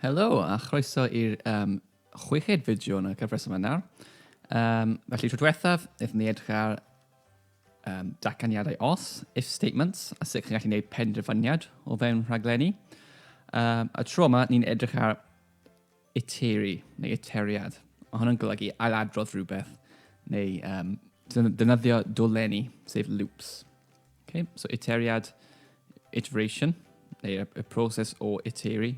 Helo a chroeso i'r um, chweched fideo yn y cyfres yma nawr. Um, felly, tro diwethaf, wnaethon ni edrych ar um, datganiadau os, if statements, a sut chi'n gallu gwneud penderfyniad o fewn rhaglenni. Um, a tro yma, ni'n edrych ar iteri, neu iteriad. Mae hwnna'n golygu ailadrodd rhywbeth, neu um, dynyddio dolenni, sef loops. Okay, so iteriad, iteration, neu y, y proses o iteri,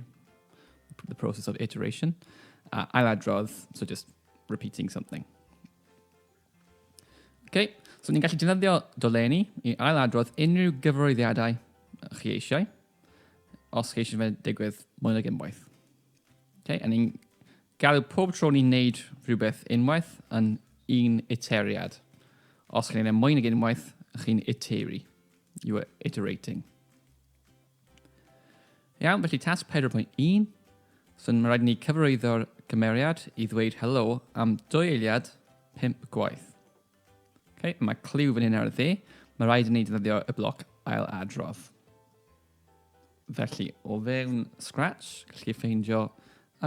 the process of iteration. Uh, ailadrodd, so just repeating something. Okay, so ni'n gallu defnyddio dolenni i ailadrodd unrhyw gyfarwyddiadau chi eisiau, os chi eisiau fe digwydd mwy nag unwaith. Okay, a ni'n Gallai pob tro ni'n neud rhywbeth unwaith yn un iteriad. Os chi'n neud e mwy nag unwaith, chi'n iteru. You are iterating. Iawn, felly tasg 4.1. So mae rhaid ni cyfarwyddo'r gymeriad i ddweud helo am dwy eiliad 5 gwaith. Okay, mae cliw fan hyn ar y dde. Mae rhaid i ni defnyddio y bloc ail adrodd. Felly, o fewn Scratch, gallwch chi ffeindio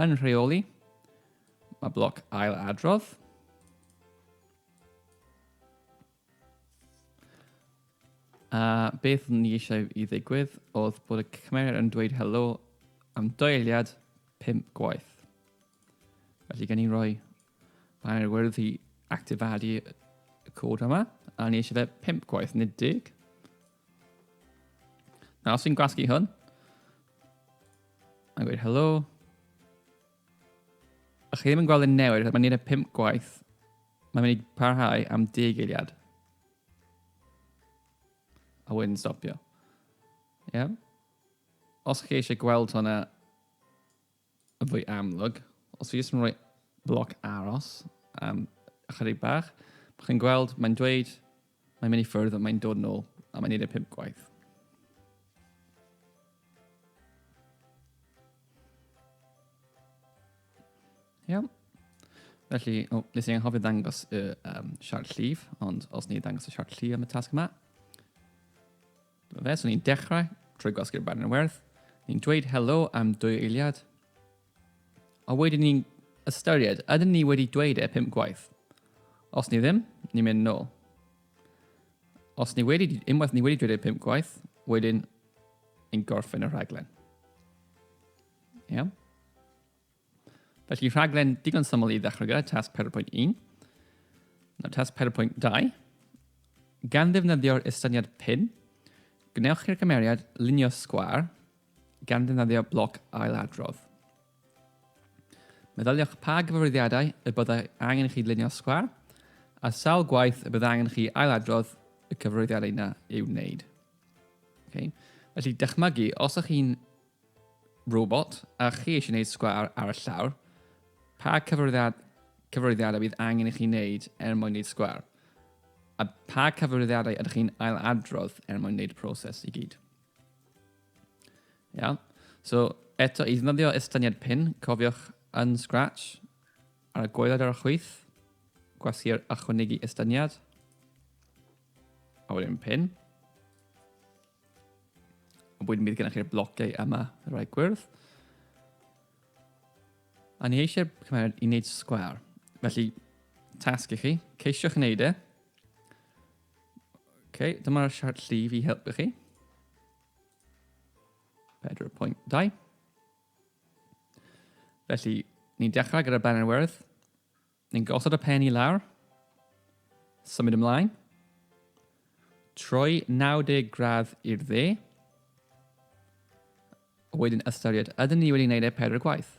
yn rheoli, mae bloc ail adrodd, a beth ni eisiau i ddigwydd oedd bod y cymeriad yn dweud helo am doeliad pimp gwaith. Felly gen i roi banner wyrdd i actifadu y cod yma, a ni eisiau fe pimp gwaith, nid dig. Na, os fi'n gwasgu hwn, a gweud helo. A chi ddim yn gweld yn newid, mae'n neud e pum gwaith. Mae'n mynd i parhau am deg eiliad. A wedyn stopio. Ie? Yeah? Os chi eisiau gweld hwnna, Yn fwy amlwg, os fi jyst yn rhoi bloc aros am ychydig bach, mae chi'n gweld, mae'n dweud, mae'n mynd i ffwrdd, mae'n dod yn ôl, a mae'n neud e pimp gwaith. Iawn. Felly, o, nes i anghofio ddangos y um, siart llif, ond os ni ddangos y siart llif am y tasg yma, Fe, so ni'n dechrau trwy gwasgu'r barn yn werth, ni'n dweud helo am dwy eiliad, a wedyn ni'n ystyried, ydyn ni wedi dweud e pum gwaith? Os ni ddim, ni'n mynd nôl. Os ni wedi, unwaith ni wedi dweud e pum gwaith, wedyn ni'n gorffen y rhaglen. Iawn? Yeah? Felly rhaglen digon syml i ddechrau gyda tasg 4.1. Nawr tasg 4.2. Gan ddefnyddio'r estyniad pin, gwnewch chi'r cymeriad lunio sgwar gan ddefnyddio bloc ailadrodd. Meddyliwch pa gyfarwyddiadau y byddai angen chi lunio sgwar a sawl gwaith y byddai angen chi ailadrodd y cyfarwyddiadau yna i'w wneud. Okay. Felly dychmygu, os ych chi'n Robot, a chi eisiau gwneud sgwâr ar y llawr, pa cyfarwyddiad, cyfarwyddiadau bydd angen i chi wneud er mwyn gwneud sgwâr? A pa cyfarwyddiadau ydych chi'n ailadrodd er mwyn gwneud y proses i gyd? Iawn. So, eto, i ddefnyddio estyniad pin, cofiwch yn Scratch, ar y goeled ar y chwith, gwasgu'r ychwanegu estyniad, a wedyn pin. Ond wedyn bydd gennych chi'r blociau yma, y rhai gwyrdd. A ni eisiau cymryd i wneud sgwar. Felly, tasg i chi, ceisio'ch wneud e. OK, dyma'r siart llif i helpu chi. 4.2. Felly, ni'n dechrau gyda banner werth. Ni'n gosod y pen i lawr. Symud ymlaen. Troi 90 gradd i'r dde. Wedyn ystyried, ydyn ni wedi gwneud e pedwar gwaith?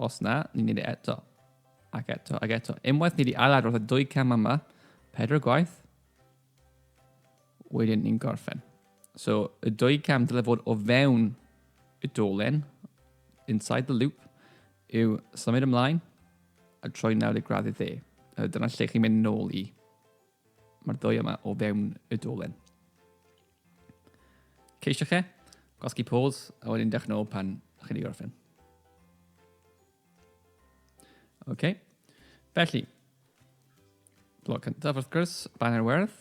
Os na, ni'n gwneud e eto. Ac eto, ac eto. Unwaith ni wedi ail-adrodd y dwy cam yma, pedwar gwaith, wedyn ni'n gorffen. So, y dwy cam dylai fod o fewn y dolen, inside the loop, Yw symud ymlaen a troi nawr i'r gradd dde. Dyna lle chi'n mynd nôl i. Mae'r ddwy yma o fewn y dolen. Ceisio chi, gosgi pôls, a wedyn dech nôl pan chi'n ei gorffen. Oce. Okay. Felly, blog cyntaf wrth gwrs, banner werdd.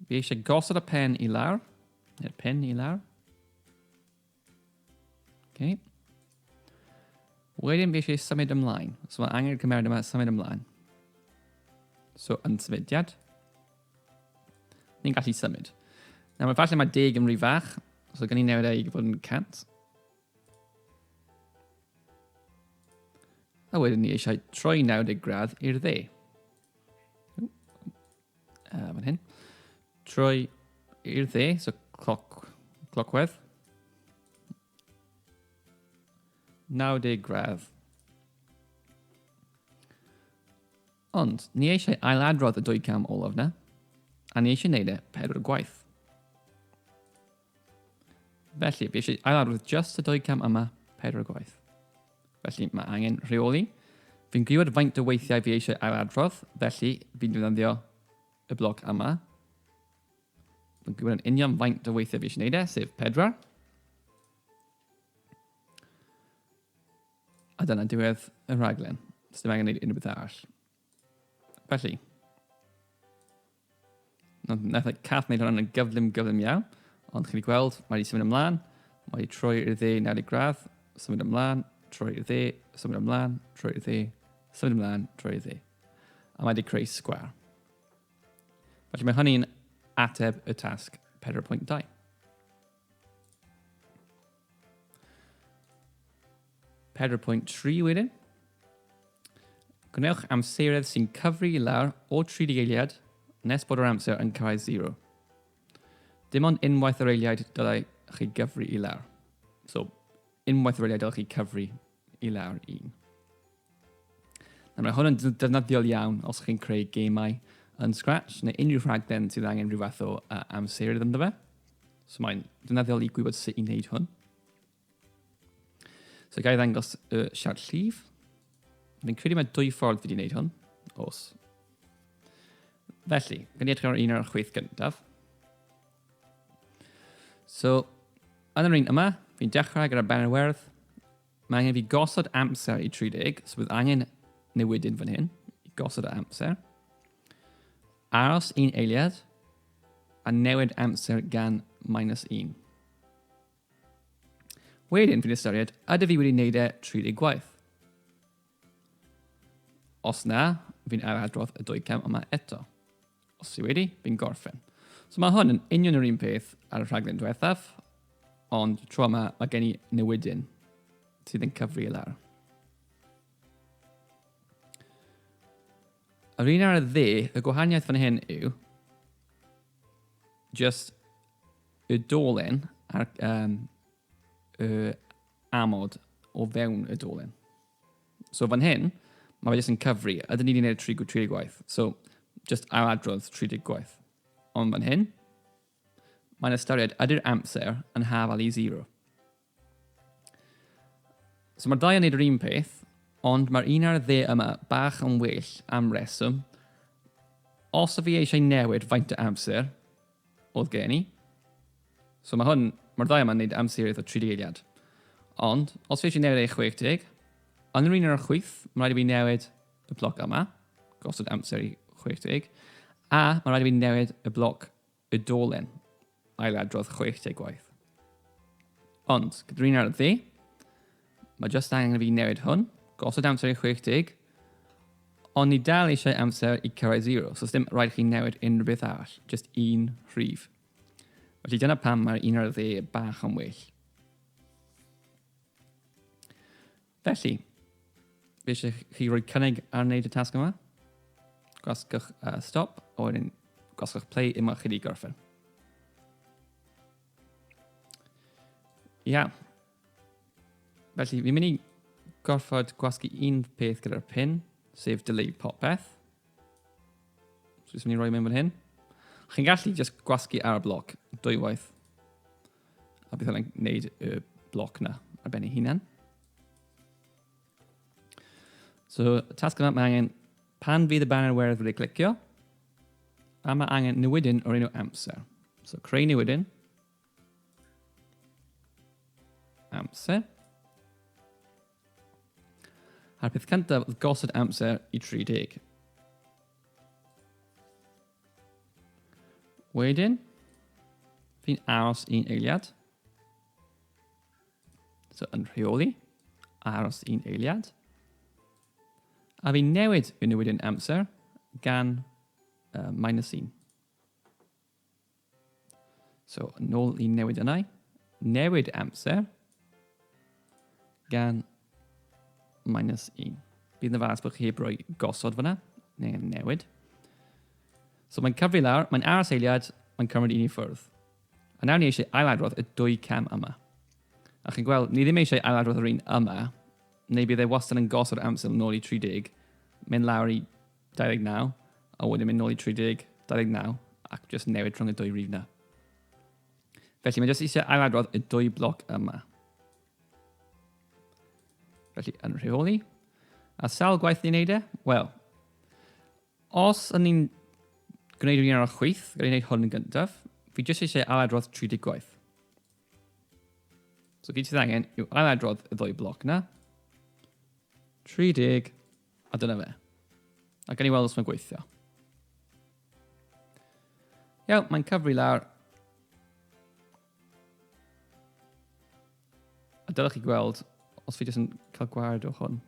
Fi eisiau gosod y pen i lawr, neu'r pen i lawr. Okay. Wedyn fi eisiau symud ymlaen. So mae angen cymeriad yma symud ymlaen. So yn symudiad. Ni'n gallu symud. Nawr mae falle mae deg yn rhy fach. So gan i newid ei fod yn 100. A wedyn ni eisiau troi 90 gradd i'r dde. Uh, fan hyn. Trwy i'r dde, so cloc, clocwedd. 90 gradd. Ond, ni eisiau ailadrodd y dwy cam olaf na, a ni eisiau wneud e pedwar gwaith. Felly, fi eisiau ailarwydd just y dwy cam yma pedwar o gwaith. Felly, mae angen rheoli. Fi'n gwybod faint o weithiau fi eisiau ailadrodd, felly fi'n defnyddio y bloc yma. Fi'n gwybod yn union faint o weithiau fi eisiau gwneud e, sef pedwar. A dyna diwedd y rhaglen. Sdim angen gwneud unrhyw beth arall. Felly, Nath y cath wneud hwnna'n gyflym, gyflym iawn. Ond chi'n gweld, mae wedi symud ymlaen. Mae wedi troi i'r dde 90 gradd, symud ymlaen, troi i'r dde, symud ymlaen, troi i'r dde, symud ymlaen, troi i'r dde. A mae wedi creu sgwar. Felly mae hynny'n ateb y tasg 4.2. Pedwar pwynt tri wedyn. Gwnewch amseredd sy'n cyfri i lawr o 30 eiliad nes bod yr amser yn cyrraedd 0. Dim ond unwaith yr eiliad dylai chi gyfri i lawr. So, unwaith yr eiliad dylai chi cyfri i lawr un. Na, mae hwn yn defnyddiol iawn os chi'n creu gemau yn Scratch neu unrhyw rhaglen sydd angen rhyw fath o uh, amserydd ynddo fe. So mae'n defnyddiol i gwybod sut i wneud hwn. So gael ddangos y uh, siart llif. Fi'n credu mae dwy ffordd wedi wneud hwn, os. Felly, gan i edrych ar un o'r chwyth gyntaf. So, yn yr un yma, fi'n dechrau gyda Benywerdd. Mae angen fi gosod amser i 30, so bydd angen newidyn fan hyn, i gosod y amser. Aros un eiliad, a newid amser gan minus 1. Wedyn, fi'n ystyried, ydy fi wedi wneud e 30 gwaith? Os na, fi'n ail adrodd y dwy cam yma eto. Os ti wedi, fi'n gorffen. So mae hwn yn union yr un peth ar y rhaglen diwethaf, ond tro yma mae gen i newidyn sydd yn cyfri i lawr. Yr un ar y dde, y gwahaniaeth fan hyn yw just y dolen a'r um, y amod o fewn y dolen. So fan hyn, mae fe jyst yn cyfri. Ydyn ni wedi gwneud 30, 30 gwaith. So, jyst ail adrodd 30 gwaith. Ond fan hyn, mae'n ystyried ydy'r amser yn hafal i 0. So mae'r ddau yn gwneud yr un peth, ond mae'r un ar y dde yma bach yn well am reswm. Os y fi eisiau newid faint o amser, oedd gen i. So mae hwn, mae'r ddau yma'n neud amseroedd o 30 eiliad. Ond, os fi eisiau newid ei 60, yn yr un o'r chwyth, mae'n rhaid i fi newid y bloc yma, gosod amser i 60, a mae'n rhaid i fi newid y bloc y dolen, ailadrodd 60 gwaith. Ond, gyda'r un ar y dde, Mae jyst angen i fi newid hwn, gosod amser i 60, ond ni dal eisiau amser i cyrraedd 0, so ddim rhaid chi newid unrhyw beth arall, jyst un rhif. Felly dyna pam mae'r un ar y dde bach yn well. Felly, fe eisiau chi roi cynnig ar wneud y tasg yma. Gwasgwch uh, stop, a wedyn gwasgwch play unwaith chi wedi gorffen. Ia, yeah. Felly, fi'n mynd i gorfod gwasgu un peth gyda'r pin, sef delay popeth. So, jyst mynd i roi mewn fan hyn. Chi'n gallu just gwasgu ar y bloc dwy waith. A bydd hwnna'n gwneud y bloc na ar ben ei hunan. So, tasg yma, mae angen pan fydd y banner werdd wedi clicio, a mae angen newidyn o'r enw amser. So, creu newidyn. Amser. A'r peth cyntaf oedd gosod amser i 30. Wedyn, fi'n aros un eiliad. So yn rheoli, aros un eiliad. A fi'n newid fy newid yn amser gan uh, minus 1. So, nôl i newid yna. Newid amser gan minus 1. Bydd yn fas bod chi heb roi gosod fyna, neu newid. So mae'n cyfri lawr, mae'n aros eiliad, mae'n cymryd un i ffwrdd. A nawr ni eisiau ailadrodd y dwy cam yma. A chi'n gweld, ni ddim eisiau ailadrodd yr un yma, neu bydd e wastad yn gosod amser yn ôl i 30, mynd lawr i 29, a wedyn mynd nôl i 30, 29, ac jyst newid rhwng y dwy rif na. Felly mae jyst eisiau ailadrodd y dwy bloc yma. Felly yn rheoli. A sawl gwaith ni'n neud e? Wel, os yn ni'n gwneud un o'r chwyth, gael ei wneud hwn yn gyntaf, fi jyst eisiau ailadrodd 30 gwaith. So gyd sydd angen yw ailadrodd y ddwy bloc na. 30, A dyna fe. A gan i weld os mae'n gweithio. Iawn, mae'n cyfri lawr. A dylech chi gweld os fi jyst yn cael gwared o hwn.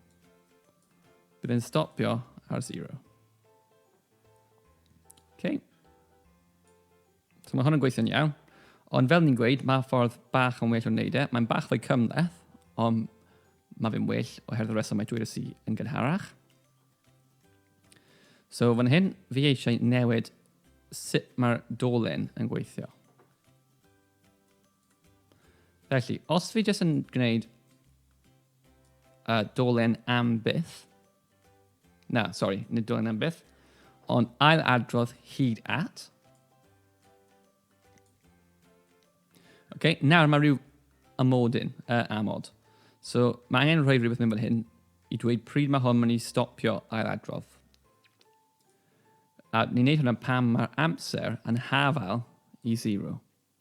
Bydd e'n stopio ar zero. Okay. So mae hwn yn gweithio'n iawn. Ond fel ni'n gweud, mae ffordd bach yn well o wneud e. Mae'n bach fwy cymhleth, ond mae fe'n well oherwydd y reswm mae dweud y yn gynharach. So fan hyn, fi eisiau newid sut mae'r dolen yn gweithio. Felly, os fi jyst yn gwneud uh, dolen am byth, Na, sori, nid dylai am byth. Ond ail adrodd hyd at. Okay, nawr mae rhyw amodyn, uh, amod. So mae angen rhoi rhywbeth mewn fel hyn i dweud pryd mae hwn mynd i stopio ail adrodd. A ni'n neud hwnna pam mae'r amser yn hafael i zero.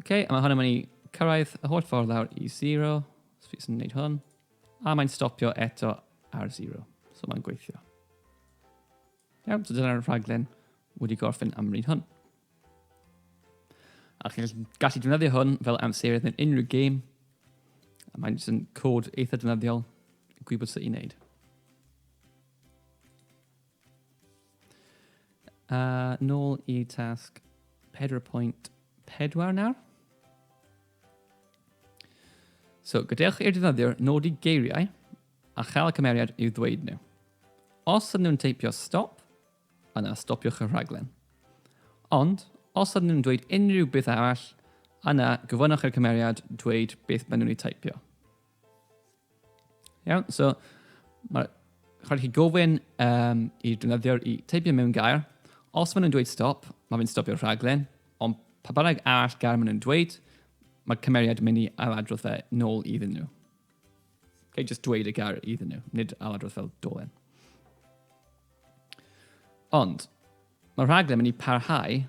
OK, a mae hwn yn mynd i cyrraedd y holl ffordd lawr i 0. So fi sy'n gwneud hwn. A mae'n stopio eto ar 0. So mae'n gweithio. Iawn, so dyna'r rhaglen wedi gorffen am ryd hwn. A chi'n gallu defnyddio hwn fel amserydd mewn unrhyw gêm. A mae'n jyst yn cod eitha defnyddiol i gwybod sut i wneud. A nôl i tasg 4.4 nawr. So, gadewch i'r defnyddiwr nodi geiriau a chael y cymeriad i'w ddweud nhw. Os ydyn nhw'n teipio stop, yna stopiwch y rhaglen. Ond, os ydyn nhw'n dweud unrhyw beth arall, yna gofynnwch i'r cymeriad dweud beth maen nhw'n ei teipio. Iawn, so mae rhaid chi gofyn um, i defnyddiwr i teipio mewn gair. Os maen nhw'n dweud stop, mae fe'n stopio'r rhaglen, ond pa bynnag arall gair maen nhw'n dweud, mae cymeriad yn mynd i ailadrodd fe nôl iddyn nhw. Okay, just dweud y gair iddyn nhw, nid ailadrodd fel dolen. Ond, mae'r rhaglen mynd i parhau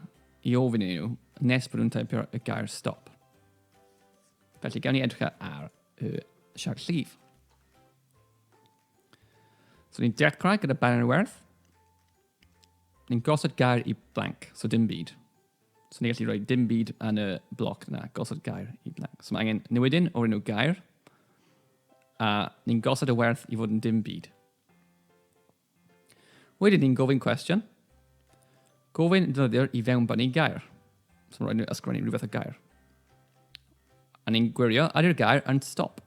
i ofyn i nhw nes bod nhw'n teipio y gair stop. Felly, gawn ni edrych ar y siart llif. So, ni'n dechrau gyda banner werth. Ni'n gosod gair i blank, so dim byd. So, ni'n gallu rhoi dim byd yn y bloc yna, gosod gair i blank. So, mae angen newidyn o'r enw gair, a ni'n gosod y werth i fod yn dim byd. Wedyn ni'n gofyn cwestiwn. Gofyn defnyddio'r i fewn bynnu gair. So rhaid ni ysgrifennu rhywbeth o gair. A ni'n gwirio ar i'r gair yn stop.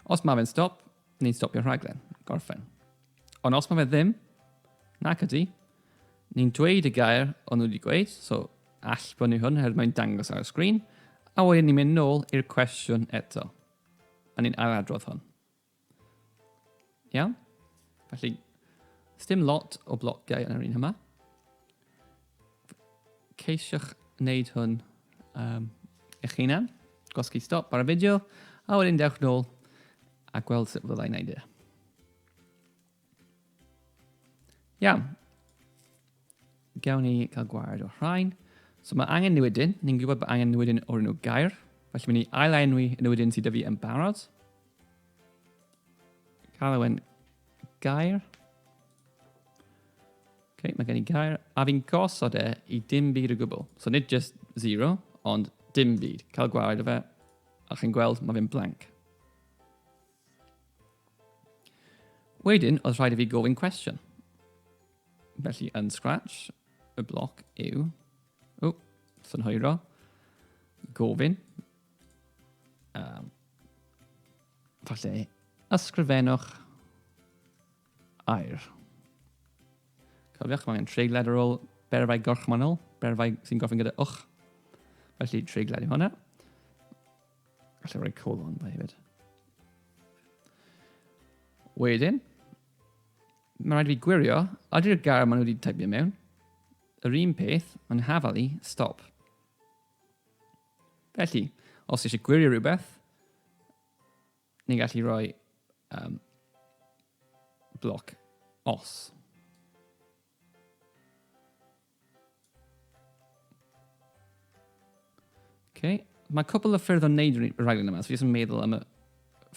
Os mae fe'n stop, ni'n stopio'r rhaglen, gorffen. Ond os mae fe ddim, nac ydy, ni'n dweud y gair o'n nhw wedi gweud, so all brynu hwn herwydd mae'n dangos ar y sgrin, a wedyn ni'n mynd nôl i'r cwestiwn eto. A ni'n ailadrodd hwn. Iawn? Felly, dim lot o blociau yn yr un yma. Ceisiwch wneud hwn um, eich hunan. Gwasgu stop ar y fideo, a wedyn dewch nôl a gweld sut fyddai'n wneud e. Iawn. Gawn ni gael gwared o'r rhain. So mae angen newidyn. Ni'n gwybod bod angen newidyn o'r enw gair. Felly mynd i ail-enwi y newidyn sydd dyfu yn barod. Cael ewen gair. Okay, mae gen i gair. A fi'n gosod e i dim byd o gwbl. So nid just zero, ond dim byd. Cael gwared o fe. A chi'n gweld, mae fe'n blank. Wedyn, oedd rhaid i fi gofyn cwestiwn. Felly, yn Scratch, y bloc yw... O, synhwyro. Gofyn. Um, falle, ysgrifennwch air. Cofiwch, mae angen treiglad ar ôl berfau gorchmannol, berfau sy'n gofyn gyda wch. Felly, treiglad i hwnna. Alla rhoi colon da hefyd. Wedyn, mae'n rhaid i fi gwirio, ydy'r gair maen nhw wedi typio mewn, yr un peth, mae'n hafal i, stop. Felly, os eisiau gwirio rhywbeth, ni'n gallu rhoi um, bloc os. Okay. Mae cwpl o ffyrdd o wneud y rhaglen yma, so fi jyst yn meddwl am y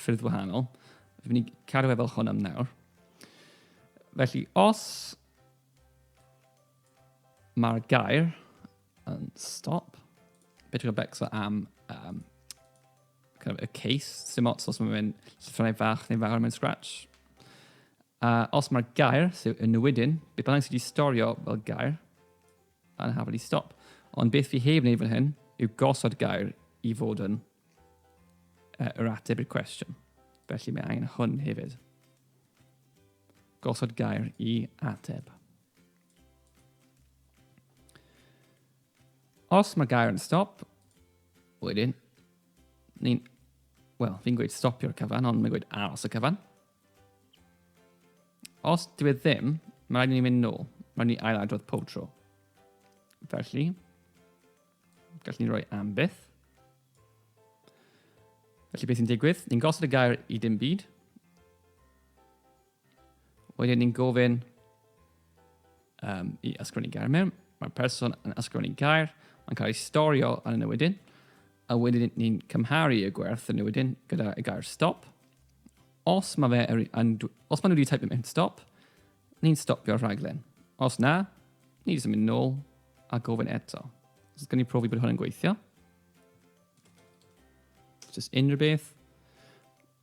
ffyrdd wahanol. Fi'n mynd i cadw fe fel hwn am nawr. Felly, os mae'r gair yn stop, beth yw'r becso am um, kind of a case, sy'n ots os mae'n llythyrau fach neu fawr mewn scratch. A os mae'r gair, so y newidyn, beth bynnag sydd wedi storio fel gair, yn hafod i stop. Ond beth fi heb wneud fan hyn yw gosod gair i fod yn uh, yr ateb i'r cwestiwn. Felly mae angen hwn hefyd. Gosod gair i ateb. Os mae gair yn stop, wedyn, ni'n, wel, fi'n gweud stopio'r cyfan, ond mae'n gweud aros y cyfan. Os dwi e ddim, mae rhaid i ni mynd nôl. Mae'n ni ail adrodd pob tro. Felly, gallwn ni roi am byth. Felly beth sy'n digwydd? Ni'n gosod y gair i dim byd. Wedyn ni'n gofyn Um, I ysgrifennu gair mewn, mae'r person yn ysgrifennu gair, mae'n cael ei storio yn y newydyn, a wedyn ni'n cymharu y gwerth y newydyn gyda y gair stop. Os mae fe er, yn, os maen nhw wedi type mewn stop, ni'n stopio'r rhaglen. Os na, ni jyst yn mynd nôl a gofyn eto. Os gen i profi bod hwn yn gweithio. Just unrhyw beth.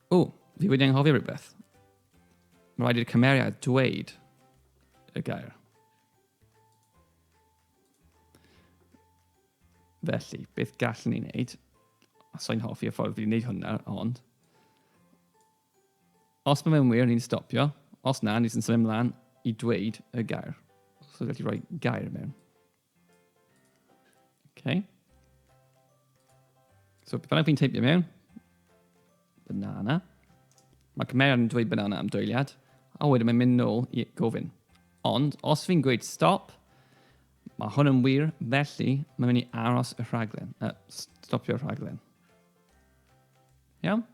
O, fi wedi anghofio rhywbeth. Mae rhaid i'r cymeriad dweud y gair. Felly, beth gallwn ni wneud? Os o'n hoffi y ffordd fi'n wneud hwnna, ond... Os mae fe'n wir, ni'n stopio. Os na, ni'n symud ymlaen i dweud y gair. So, gallu rhoi gair mewn. Okay. So, beth bynnag fi'n teipio mewn, banana. Mae cymeriad yn dweud banana am dwyliad, a wedyn mae'n mynd nôl i gofyn. Ond, os fi'n gweud stop, mae hwn yn wir, felly mae'n mynd i aros y rhaglen, uh, stopio'r rhaglen. Iawn?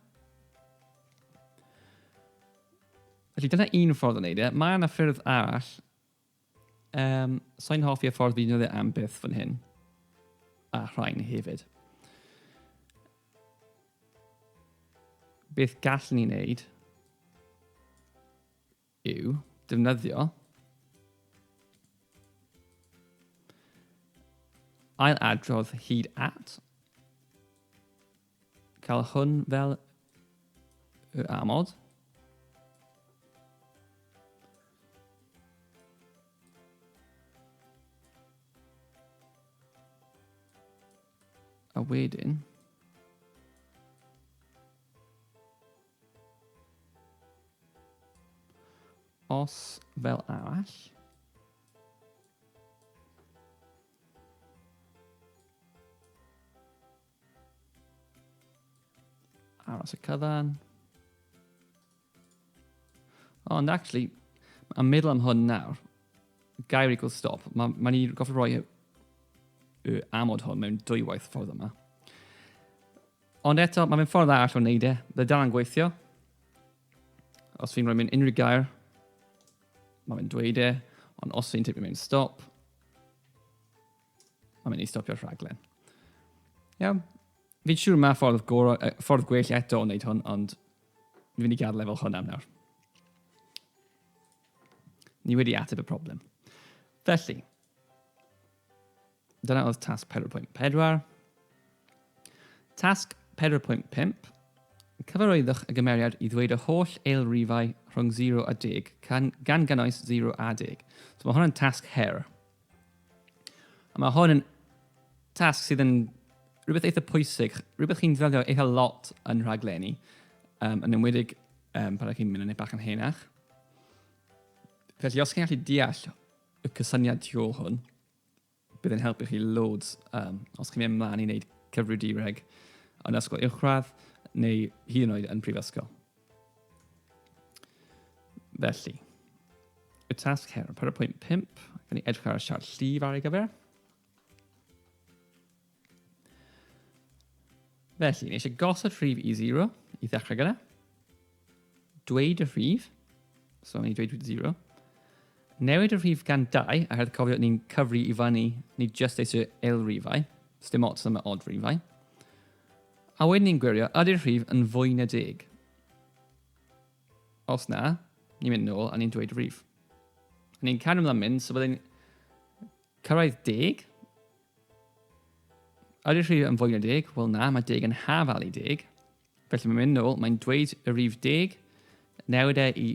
Felly dyna un ffordd o wneud e. Mae yna ffyrdd arall Um, Sa'n hoffi y ffordd fi'n dweud am byth fan hyn. A rhain hefyd. Beth gallwn ni wneud yw defnyddio ail adrodd hyd at Cael hwn fel y amod. A wedyn, os fel arall. Aros y cyfan. Oh, and actually, I'm middle am hwn nawr. Gair equal stop. Mae'n ma ni goffi roi y amod hwn mewn dwy waith ffordd yma. Ond eto, mae'n ffordd arall o wneud e. Bydd dal yn gweithio. Os fi'n rhoi mewn unrhyw gair, mae'n dweud e. Ond os fi'n tipio mewn stop, Mae'n mynd i stopio'r rhaglen. Iawn. Fi'n siŵr mae ffordd, goro, uh, ffordd gwell eto o wneud hwn, ond fi'n mynd i gadael efo hwn am nawr. Ni wedi ateb y problem. Felly, dyna oedd tasg 4.4. Tasg 4.5. Cyfarwyddwch y gymeriad i ddweud y holl eil rifau rhwng 0 a 10, gan, gan gynnwys 0 a 10. So mae hwnna'n tasg her. A mae hwn yn tasg sydd yn rhywbeth eitha pwysig, rhywbeth chi'n ddefnyddio eitha lot yn rhaglenni, um, yn ymwedig um, pan ydych chi'n mynd yn ei bach yn henach. Felly os chi'n gallu deall y cysyniad tu ôl hwn, bydd yn helpu chi loads um, os chi'n mynd ymlaen i wneud cyfrifiadureg yn ysgol uwchradd neu hyd yn oed yn prifysgol. Felly, y tasg her, 4.5, gan ni edrych ar y siart llif ar ei gyfer. Felly, ni eisiau gosod rhif i 0 i ddechrau gyda. Dweud y rhif, so ni dweud 0. Newid y rhif gan 2, a hedd cofio ni'n cyfri i fyny, ni just eisiau eilrifau, so dim ots am y odd rhifau. A wedyn ni'n gwirio, ydy'r rhif yn fwy na deg? Os na, ni'n mynd nôl a ni'n dweud rhif. A ni'n cario ymlaen mynd, so byddai'n cyrraedd deg. Ydy'r rhif yn fwy na deg? Wel na, mae deg yn haf alu deg. Felly mae'n mynd nôl, mae'n dweud y rhif deg, newid e i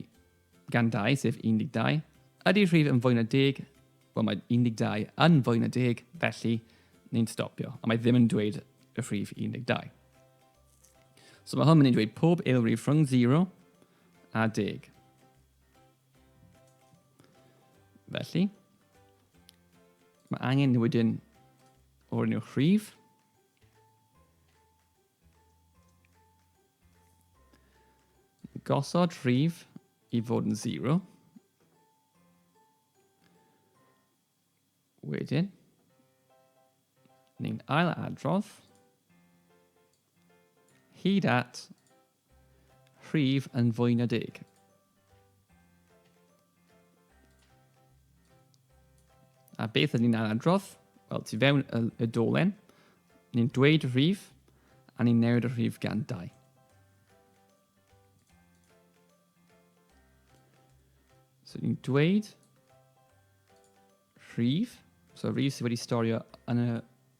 gan 2, sef 12. Ydy rhif yn fwy na deg? Wel, mae 12 yn fwy na deg, felly ni'n stopio. A mae ddim yn dweud y rhif 12. So mae hwn yn dweud pob eilrif rhwng 0 a 10. Felly, mae angen wedyn o'r enw rhif. Gosod rhif i fod yn 0. Wedyn, ni'n ail adrodd hyd at rhif yn fwy na deg. A beth ydy'n ni'n adrodd? Wel, tu fewn y, y dolen, ni'n dweud y rhif, a ni'n newid y rhif gan 2. So ni'n dweud rhif, so rhif sydd wedi storio yn y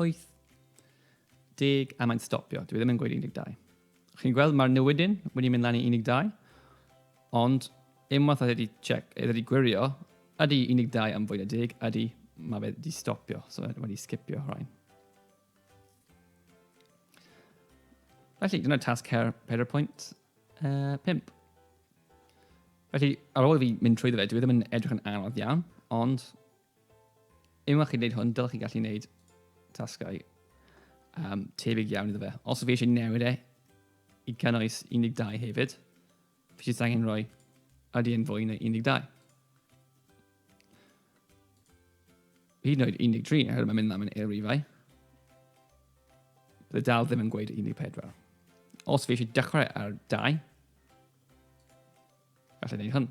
Wyth. Deg, a mae'n stopio. Dwi ddim yn gweud 12. Chi'n gweld, mae'r newidyn wedi mynd lan i 12, ond unwaith oedd wedi, check, oedd wedi gwirio, ydy 12 am fwy na deg, ydy, mae fe wedi stopio, so mae wedi sgipio rhain. Felly, dyna tasg her, her pwynt uh, 5. Felly, ar ôl i fi mynd trwy ddefa, dwi ddim yn edrych yn anodd iawn, ond Unwaith chi'n gwneud hwn, dylech chi gallu gwneud tasgau um, tebyg iawn iddo fe. Os fi eisiau newid e i cynnwys 12 hefyd, fi eisiau angen rhoi ydy yn fwy na 12. Hyd yn oed 13, oherwydd mae'n mynd am yn eirifau. Bydd dal ddim yn gweud 14. Os fi eisiau dechrau ar 2, gallai wneud hwn.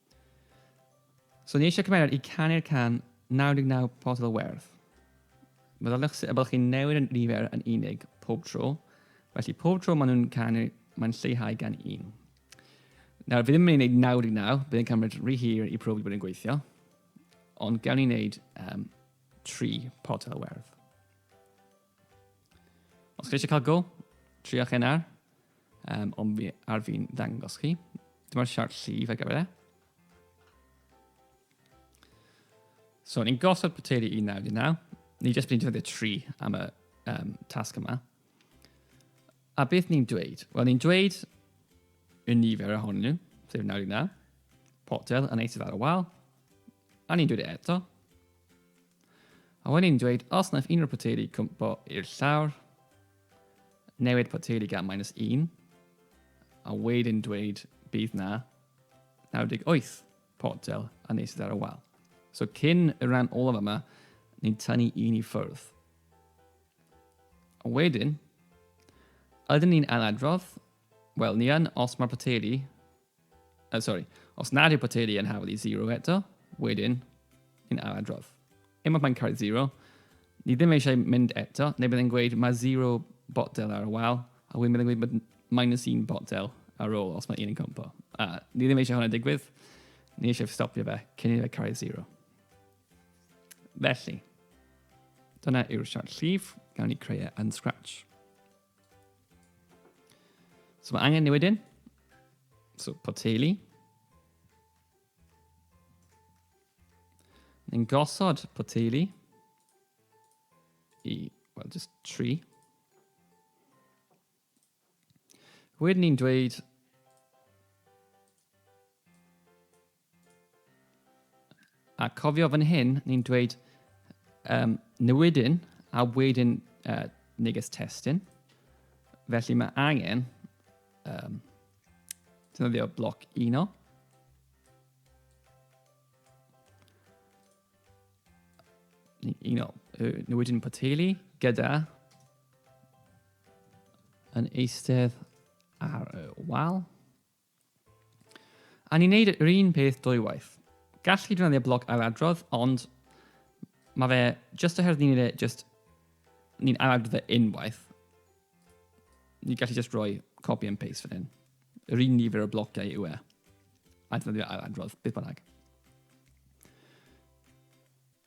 So ni eisiau cymeriad i canu'r can 99 potel o werth. Meddyliwch sut y byddwch chi'n newid y nifer yn unig pob tro, felly pob tro maen nhw'n canu, mae'n lleihau gan un. Nawr, fi ddim yn mynd i wneud 99, bydd yn cymryd rhy hir i profi bod yn gweithio, ond gawn ni wneud um, 3 potel o werth. Os chi eisiau cael go, triach hyn ar, um, ond fi, ar fi'n ddangos chi. Dyma'r siart llif ar gyfer e. So, ni'n gosod poteri 1919. Ni jyst bydd'n defnyddio 3 am y um, tasg yma. A beth ni'n dweud? Wel, ni'n dweud y nifer ohonyn nhw, sef 99, potel yn eithaf ar y wal, A ni'n dweud e eto. A wedyn ni'n dweud, os wnaeth unrhyw poteri cwmpo i'r llawr, newid poteri gan minus 1, a wedyn dweud bydd na 98 potel a nes ar y wal. So cyn y rhan olaf yma, ni'n tynnu un i ffwrdd. A wedyn, ydyn ni'n anadrodd? Wel, ni yn os mae'r poteri Oh, sorry. Os nad yw poteri yn hafal i zero eto, wedyn, yn ail adrodd. Unwaith mae'n cael zero, ni ddim eisiau mynd eto, neu byddai'n gweud mae zero botel ar y wal, a wedyn byddai'n gweud minus un botel ar ôl os mae un yn cwmpo. A ni ddim eisiau hwnna digwydd, ni eisiau stopio fe cyn i fe cael zero. Felly, dyna yw'r siart llif, gawn ni creu e yn Scratch. So mae angen newid un. So poteili. Yn gosod poteili i, well, just tri. Wedyn ni'n dweud A cofio fan hyn, ni'n dweud um, newidyn a wedyn uh, neges testyn. Felly mae angen um, defnyddio bloc uno. Uno, newidyn poteli gyda yn eistedd ar y wal. A ni'n neud yr un peth dwywaith. Gall chi ddefnyddio bloc ailadrodd, ond mae fe just oherwydd ni'n neud e just, ni'n ailadrodd e unwaith. Ni'n gallu just rhoi copy and paste fan hyn. Yr un nifer o blociau yw e. A ddefnyddio ailadrodd, beth bynnag.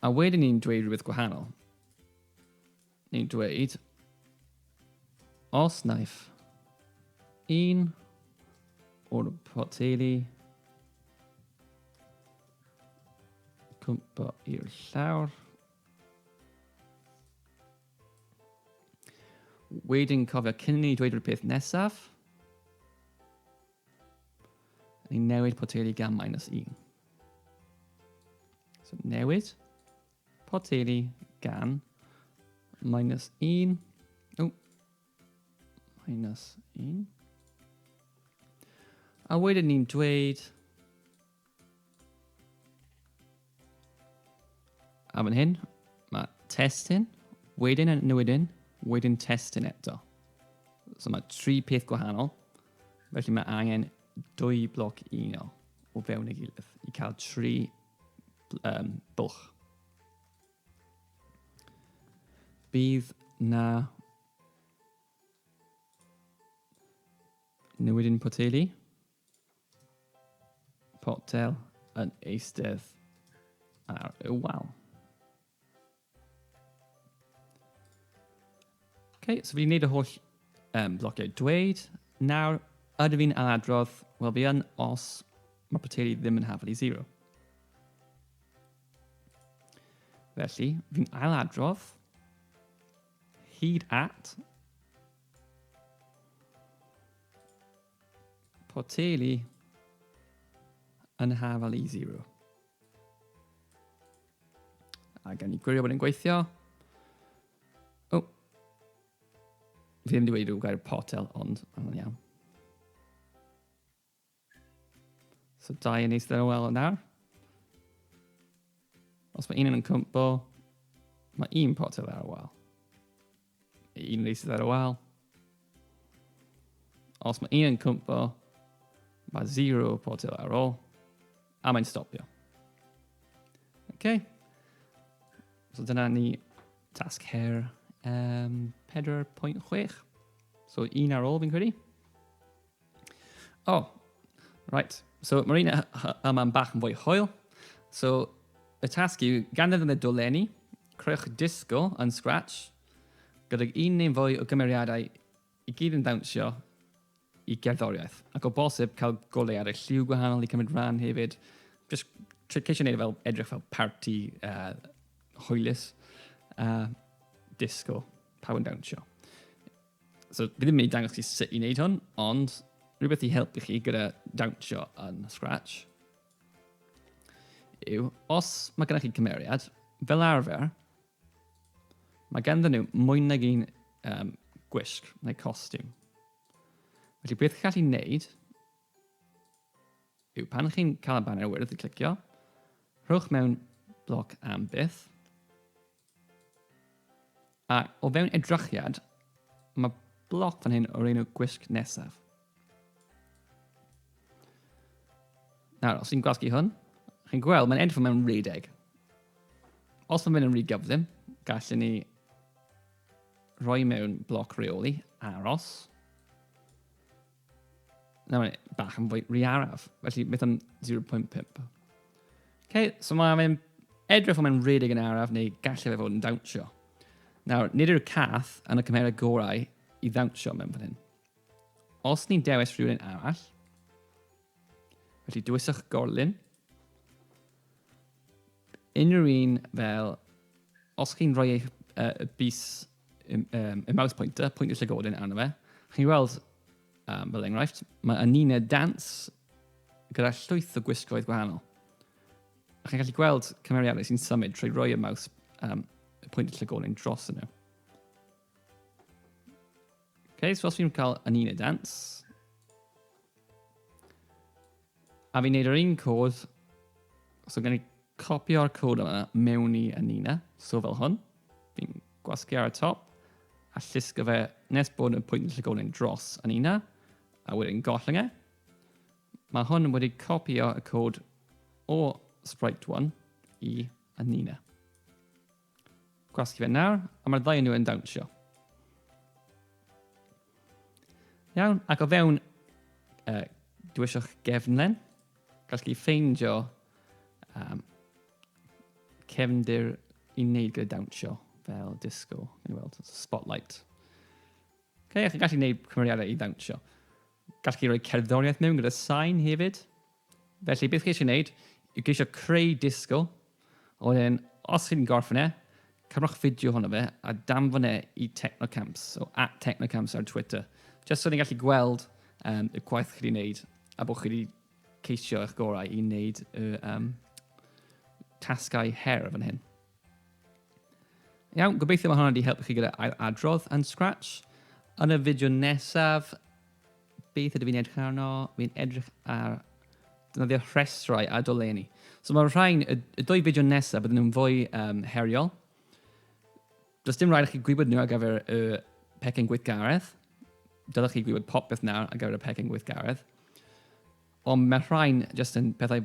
A wedyn ni'n dweud rhywbeth gwahanol. ni'n dweud, os naiff un o'r poteli cwmpo i'r llawr, wedyn cofio cyn ni dweud rhywbeth peth nesaf, ni'n newid poteli gan minus 1. So newid. Poteri gan minus 1. O, minus 1. A wedyn ni'n dweud... A fan hyn, mae testyn, wedyn yn newidyn, wedyn testyn eto. So mae tri peth gwahanol. Felly mae angen dwy bloc unol o fewn ei gilydd i cael tri um, bwlch. Bydd na newid yn poteli. Potel yn eistedd ar y wal. Okay, so fi wedi gwneud y holl um, blociau dweud. Nawr, ydw i'n anadrodd? Wel, fi yn os mae poteri ddim yn hafel i zero. Felly, fi'n ailadrodd hyd at poteli yn hafel i zero. A gan ni gwirio bod yn gweithio. O! Oh. Fi ddim wedi wedi rhyw gair potel, ond mae'n iawn. So dau yn eistedd yn ôl yn nawr. Os mae un yn cwmpo, mae un potel ar y wal. Un fi sydd ar y wal. Os mae un yn cwmpo, mae zero potel ar ôl, a mae'n stopio. Okay. So dyna ni tasg her um, 4.6. So un ar ôl fi'n credu. Oh, right. So mae'r un yma'n bach yn fwy hwyl. So y tasg yw gan iddyn nhw dolenni, creuwch disgo yn Scratch gydag un neu'n fwy o gymeriadau i gyd yn dawnsio i gerddoriaeth. Ac o bosib cael golau ar y lliw gwahanol i cymryd rhan hefyd. Just ceisio gwneud e fel edrych fel party uh, hwylus. Uh, disco, pawb yn dawnsio. So, fi ddim yn mynd i dangos chi sut i wneud hwn, ond rhywbeth i helpu chi gyda dawnsio yn Scratch yw, os mae gennych chi cymeriad, fel arfer, mae ganddyn nhw mwy nag un um, gwisg neu costiwm. Felly beth chi'n gallu wneud yw pan chi'n cael y banner wyrdd i clicio, rhowch mewn bloc am byth, A o fewn edrychiad, mae bloc fan hyn o'r enw gwisg nesaf. Nawr, os ti'n gwasgu hwn, chi'n gweld mae'n edrych mewn rhedeg. Os mae'n mynd yn rhy gyflym, gallwn ni rhoi mewn bloc reoli, aros, Nawr, bach yn fwy rhy araf, felly beth am 0.5? Okay, so mae'n edrych fel mae'n rhedeg yn araf neu gallu fe fod yn dawnsio. Nawr, nid yw'r cath yn y cymherau gorau i ddawnsio mewn fan hyn. Os ni'n dewis rhywun arall, felly dywyswch gorlun, unrhyw un fel, os chi'n rhoi eich uh, bus y, um, y mouse pointer, pwynt y llygoden arno fe. Chi'n weld, um, fel enghraifft, mae Anine Dance gyda llwyth o gwisgoedd gwahanol. A chi'n gallu gweld cymeriadau sy'n symud trwy roi y maws um, y pwynt llygolen dros yno. Ok, so os fi'n cael Anine Dance, A fi'n neud yr un cod, so gawn ni copio'r cod yma mewn i Anina, so fel hwn. Fi'n gwasgu ar y top, a llusgo fe nes bod y pwynt yn llygolyn dros Anina, a wedyn gollwng e. Mae hwn wedi copio y cod o Sprite 1 i Anina. Gwasgu fe nawr, a mae'r ddau o nhw yn dawnsio. Iawn, ac o fewn uh, dwysio'ch gefnlen, gall chi ffeindio um, cefndir i wneud gyda dawnsio fel disco, yn ei weld, spotlight. Okay, a chi'n gallu gwneud cymeriadau i ddawnsio. Gall chi roi cerddoriaeth mewn gyda sain hefyd. Felly, beth geisio wneud yw geisio creu disgl, a wedyn, os chi'n gorffen e, cymrwch fideo ohono fe a danfon e i Technocamps, o at Technocamps ar Twitter, jyst so ni'n gallu gweld um, y gwaith chi wedi wneud a bod chi wedi ceisio eich gorau i wneud y um, tasgau her fan hyn. Iawn, gobeithio mae hwnna wedi helpu chi gyda ail adrodd yn Scratch. Yn y fideo nesaf, Beth ydw i'n edrych arno? Fi'n edrych ar defnyddio rhestrau a dolenni. So mae'r rhain, y, y dwy fideo nesaf, bydden nhw'n fwy um, heriol. Does dim rhaid i chi gwybod nhw ar gyfer y pecyn gweithgaredd. Dylech chi gwybod popeth nawr ar gyfer y pecyn gweithgaredd. Ond mae rhain jyst yn pethau